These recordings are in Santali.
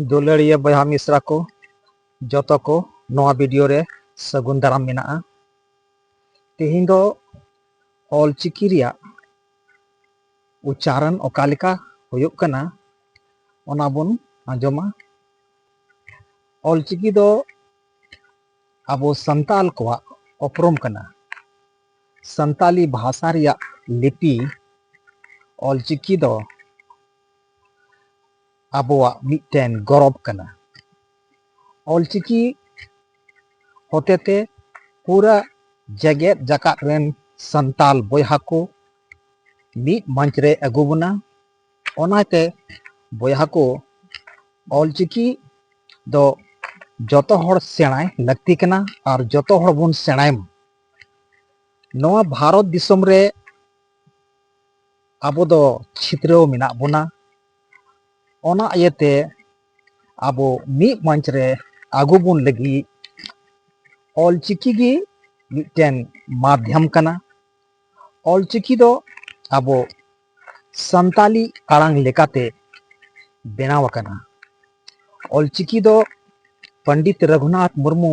ᱫᱩᱞᱟᱹᱲᱤᱭᱟᱹ ᱵᱚᱭᱦᱟ ᱢᱤᱥᱨᱟ ᱠᱚ ᱡᱚᱛᱚ ᱠᱚ ᱱᱚᱣᱟ ᱵᱷᱤᱰᱤᱭᱳ ᱨᱮ ᱥᱟᱹᱜᱩᱱ ᱫᱟᱨᱟᱢ ᱢᱮᱱᱟᱜᱼᱟ ᱛᱮᱦᱮᱧ ᱫᱚ ᱚᱞᱪᱤᱠᱤ ᱨᱮᱭᱟᱜ ᱩᱪᱪᱟᱨᱚᱱ ᱚᱠᱟ ᱞᱮᱠᱟ ᱦᱩᱭᱩᱜ ᱠᱟᱱᱟ ᱚᱱᱟ ᱵᱚᱱ ᱟᱸᱡᱚᱢᱟ ᱚᱞᱪᱤᱠᱤ ᱫᱚ ᱟᱵᱚ ᱥᱟᱱᱛᱟᱞ ᱠᱚᱣᱟᱜ ᱩᱯᱨᱩᱢ ᱠᱟᱱᱟ ᱥᱟᱱᱛᱟᱞᱤ ᱵᱷᱟᱥᱟ ᱨᱮᱭᱟᱜ ᱞᱤᱯᱤ ᱚᱞᱪᱤᱠᱤ ᱫᱚ ᱟᱵᱚᱣᱟᱜ ᱢᱤᱫᱴᱮᱱ ᱜᱚᱨᱚᱵᱽ ᱠᱟᱱᱟ ᱚᱞᱪᱤᱠᱤ ᱦᱚᱛᱮᱛᱮ ᱯᱩᱨᱟᱹ ᱡᱮᱜᱮᱛ ᱡᱟᱠᱟᱛ ᱨᱮᱱ ᱥᱟᱱᱛᱟᱞ ᱵᱚᱭᱦᱟ ᱠᱚ ᱢᱤᱫ ᱢᱚᱧᱪ ᱨᱮ ᱟᱹᱜᱩ ᱵᱚᱱᱟ ᱚᱱᱟᱛᱮ ᱵᱚᱭᱦᱟ ᱠᱚ ᱚᱞᱪᱤᱠᱤ ᱫᱚ ᱡᱚᱛᱚ ᱦᱚᱲ ᱥᱮᱬᱟᱭ ᱞᱟᱹᱠᱛᱤ ᱠᱟᱱᱟ ᱟᱨ ᱡᱚᱛᱚ ᱦᱚᱲ ᱵᱚᱱ ᱥᱮᱬᱟᱭ ᱢᱟ ᱱᱚᱣᱟ ᱵᱷᱟᱨᱚᱛ ᱫᱤᱥᱚᱢ ᱨᱮ ᱟᱵᱚ ᱫᱚ ᱪᱷᱤᱛᱨᱟᱹᱣ ᱢᱮᱱᱟᱜ ᱵᱚᱱᱟ ᱚᱱᱟ ᱤᱭᱟᱹᱛᱮ ᱟᱵᱚ ᱢᱤᱫ ᱢᱚᱧᱪ ᱨᱮ ᱟᱹᱜᱩ ᱵᱚᱱ ᱞᱟᱹᱜᱤᱫ ᱚᱞᱪᱤᱠᱤ ᱜᱮ ᱢᱤᱫᱴᱮᱱ ᱢᱟᱫᱽᱭᱟᱢ ᱠᱟᱱᱟ ᱚᱞᱪᱤᱠᱤ ᱫᱚ ᱟᱵᱚ ᱥᱟᱱᱛᱟᱞᱤ ᱟᱲᱟᱝ ᱞᱮᱠᱟᱛᱮ ᱵᱮᱱᱟᱣ ᱟᱠᱟᱱᱟ ᱚᱞᱪᱤᱠᱤ ᱫᱚ ᱯᱚᱱᱰᱤᱛ ᱨᱚᱜᱷᱩᱱᱟᱛᱷ ᱢᱩᱨᱢᱩ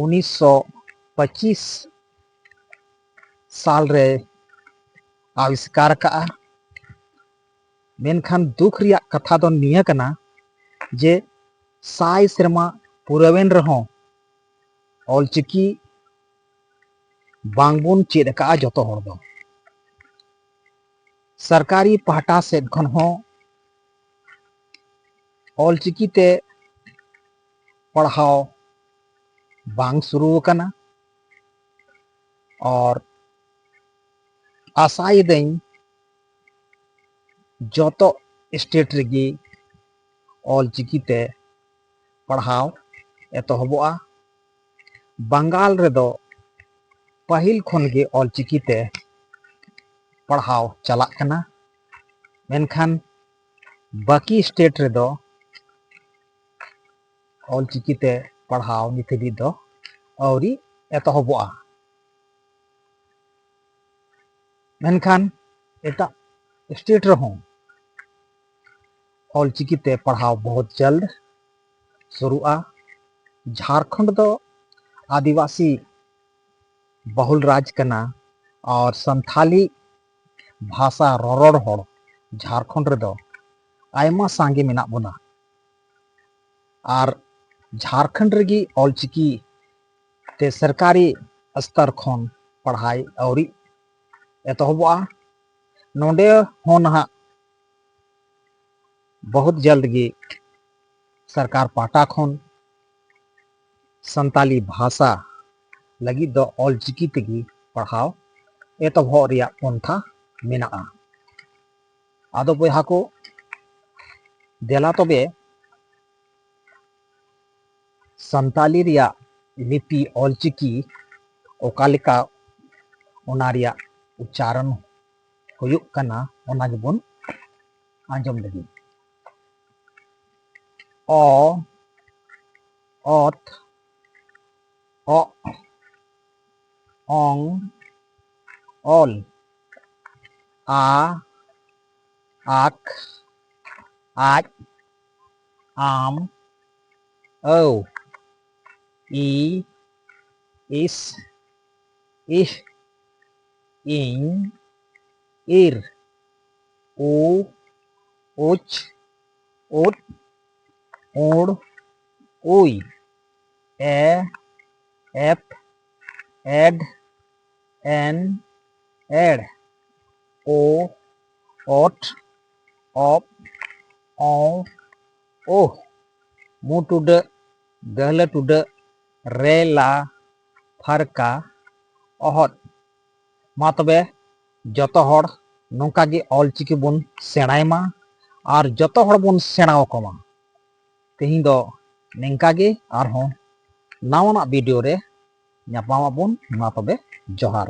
ᱩᱱᱤᱥ ᱥᱚ ᱯᱚᱸᱪᱤᱥ ᱥᱟᱞ ᱨᱮᱭ ᱟᱵᱤᱥᱠᱟᱨ ᱟᱠᱟᱫᱼᱟ ᱢᱮᱱᱠᱷᱟᱱ ᱫᱩᱠ ᱨᱮᱭᱟᱜ ᱠᱟᱛᱷᱟ ᱫᱚ ᱱᱤᱭᱟᱹ ᱠᱟᱱᱟ ᱡᱮ ᱥᱟᱭ ᱥᱮᱨᱢᱟ ᱯᱩᱨᱟᱹᱣᱮᱱ ᱨᱮᱦᱚᱸ ᱚᱞᱪᱤᱠᱤ ᱵᱟᱝᱵᱚᱱ ᱪᱮᱫ ᱟᱠᱟᱫᱼᱟ ᱡᱚᱛᱚ ᱦᱚᱲ ᱫᱚ ᱥᱚᱨᱠᱟᱨᱤ ᱯᱟᱦᱴᱟ ᱥᱮᱫ ᱠᱷᱚᱱ ᱦᱚᱸ ᱚᱞᱪᱤᱠᱤ ᱛᱮ ᱯᱟᱲᱦᱟᱣ ᱵᱟᱝ ᱥᱩᱨᱩ ᱟᱠᱟᱱᱟ ᱟᱨ ᱟᱥᱟᱭᱮᱫᱟᱹᱧ ᱡᱚᱛᱚ ᱥᱴᱮᱴ ᱨᱮᱜᱮ ᱚᱞᱪᱤᱠᱤᱛᱮ ᱯᱟᱲᱦᱟᱣ ᱮᱛᱚᱦᱚᱵᱚᱜᱼᱟ ᱵᱟᱝᱜᱟᱞ ᱨᱮᱫᱚ ᱯᱟᱹᱦᱤᱞ ᱠᱷᱚᱱᱜᱮ ᱚᱞᱪᱤᱠᱤᱛᱮ ᱯᱟᱲᱦᱟᱣ ᱪᱟᱞᱟᱜ ᱠᱟᱱᱟ ᱢᱮᱱᱠᱷᱟᱱ ᱵᱟᱹᱠᱤ ᱥᱴᱮᱴ ᱨᱮᱫᱚ ᱚᱞᱪᱤᱠᱤ ᱛᱮ ᱯᱟᱲᱦᱟᱣ ᱱᱤᱛ ᱦᱟᱹᱵᱤᱡ ᱫᱚ ᱟᱹᱣᱨᱤ ᱮᱛᱚᱦᱚᱵᱚᱜᱼᱟ ᱢᱮᱱᱠᱷᱟᱱ ᱮᱴᱟᱜ ᱥᱴᱮᱴ ᱨᱮᱦᱚᱸ ᱚᱞᱪᱤᱠᱤ ᱛᱮ ᱯᱟᱲᱦᱟᱣ ᱵᱚᱦᱩᱛ ᱡᱟᱞᱫ ᱥᱩᱨᱩᱜᱼᱟ ᱡᱷᱟᱲᱠᱷᱚᱸᱰ ᱫᱚ ᱟᱹᱫᱤᱵᱟᱹᱥᱤ ᱵᱟᱹᱦᱩᱞ ᱨᱟᱡᱽ ᱠᱟᱱᱟ ᱟᱨ ᱥᱟᱱᱛᱷᱟᱞᱤ ᱵᱷᱟᱥᱟ ᱨᱚᱨᱚᱲ ᱦᱚᱲ ᱡᱷᱟᱨᱠᱷᱚᱸᱰ ᱨᱮᱫᱚ ᱟᱭᱢᱟ ᱥᱟᱸᱜᱮ ᱢᱮᱱᱟᱜ ᱵᱚᱱᱟ ᱟᱨ ᱡᱷᱟᱨᱠᱷᱚᱸᱰ ᱨᱮᱜᱮ ᱚᱞᱪᱤᱠᱤ ᱛᱮ ᱥᱚᱨᱠᱟᱨᱤ ᱥᱛᱚᱨ ᱠᱷᱚᱱ ᱯᱟᱲᱦᱟᱭ ᱟᱹᱣᱨᱤ ᱮᱛᱚᱦᱚᱵᱚᱜᱼᱟ ᱱᱚᱰᱮ ᱦᱚᱸ ᱱᱟᱦᱟᱜ ᱵᱚᱦᱩᱛ ᱡᱚᱞᱫ ᱜᱮ ᱥᱚᱨᱠᱟᱨ ᱯᱟᱦᱴᱟ ᱠᱷᱚᱱ ᱥᱟᱱᱛᱟᱞᱤ ᱵᱷᱟᱥᱟ ᱞᱟᱹᱜᱤᱫ ᱫᱚ ᱚᱞ ᱪᱤᱠᱤ ᱛᱮᱜᱮ ᱯᱟᱲᱦᱟᱣ ᱮᱛᱚᱦᱚᱵ ᱨᱮᱭᱟᱜ ᱯᱚᱱᱛᱷᱟ ᱢᱮᱱᱟᱜᱼᱟ ᱟᱫᱚ ᱵᱚᱭᱦᱟ ᱠᱚ ᱫᱮᱞᱟ ᱛᱚᱵᱮ ᱥᱟᱱᱛᱟᱞᱤ ᱨᱮᱭᱟᱜ ᱞᱤᱯᱤ ᱚᱞ ᱪᱤᱠᱤ ᱚᱠᱟ ᱞᱮᱠᱟ ᱚᱱᱟ ᱨᱮᱭᱟᱜ ᱩᱪᱪᱟᱨᱚᱱ ᱦᱩᱭᱩᱜ ᱠᱟᱱᱟ ᱚᱱᱟ ᱜᱮᱵᱚᱱ ᱟᱸᱡᱚᱢ ᱞᱟᱹᱜᱤᱫ ᱚ ᱚᱛ ᱚ ᱚᱝ ᱚᱞ ᱟ ᱟᱠ ᱟᱡ ᱟᱢ ᱟᱹᱣ ᱤ ᱤᱥ ᱤᱦ ᱤᱧ ᱤᱨ ᱩ ᱩᱪ ᱩᱫ ᱩᱬ ᱩᱭ ᱮ ᱮᱯᱷ ᱮᱰ ᱮᱱ ᱮᱲ ᱳ ᱚᱴ ᱚᱯᱷ ᱚᱸ ᱳ ᱢᱩ ᱴᱩᱰᱟᱹᱜ ᱜᱟᱹᱦᱞᱟᱹ ᱴᱩᱰᱟᱹᱜ ᱨᱮ ᱞᱟ ᱯᱷᱟᱨᱠᱟ ᱚᱦᱚᱫ ᱢᱟ ᱛᱚᱵᱮ ᱡᱚᱛᱚ ᱦᱚᱲ ᱱᱚᱝᱠᱟ ᱜᱮ ᱚᱞᱪᱤᱠᱤ ᱵᱚᱱ ᱥᱮᱬᱟᱭ ᱢᱟ ᱟᱨ ᱡᱚᱛᱚ ᱦᱚᱲ ᱵᱚᱱ ᱥᱮᱬᱟ ᱟᱠᱚ ᱢᱟ ᱛᱮᱦᱮᱧ ᱫᱚ ᱱᱤᱝᱠᱟ ᱜᱮ ᱟᱨᱦᱚᱸ ᱱᱟᱣᱟᱱᱟᱜ ᱵᱷᱤᱰᱤᱭᱳ ᱨᱮ ᱧᱟᱯᱟᱢ ᱟᱵᱚᱱ ᱢᱟ ᱛᱚᱵᱮ ᱡᱚᱦᱟᱨ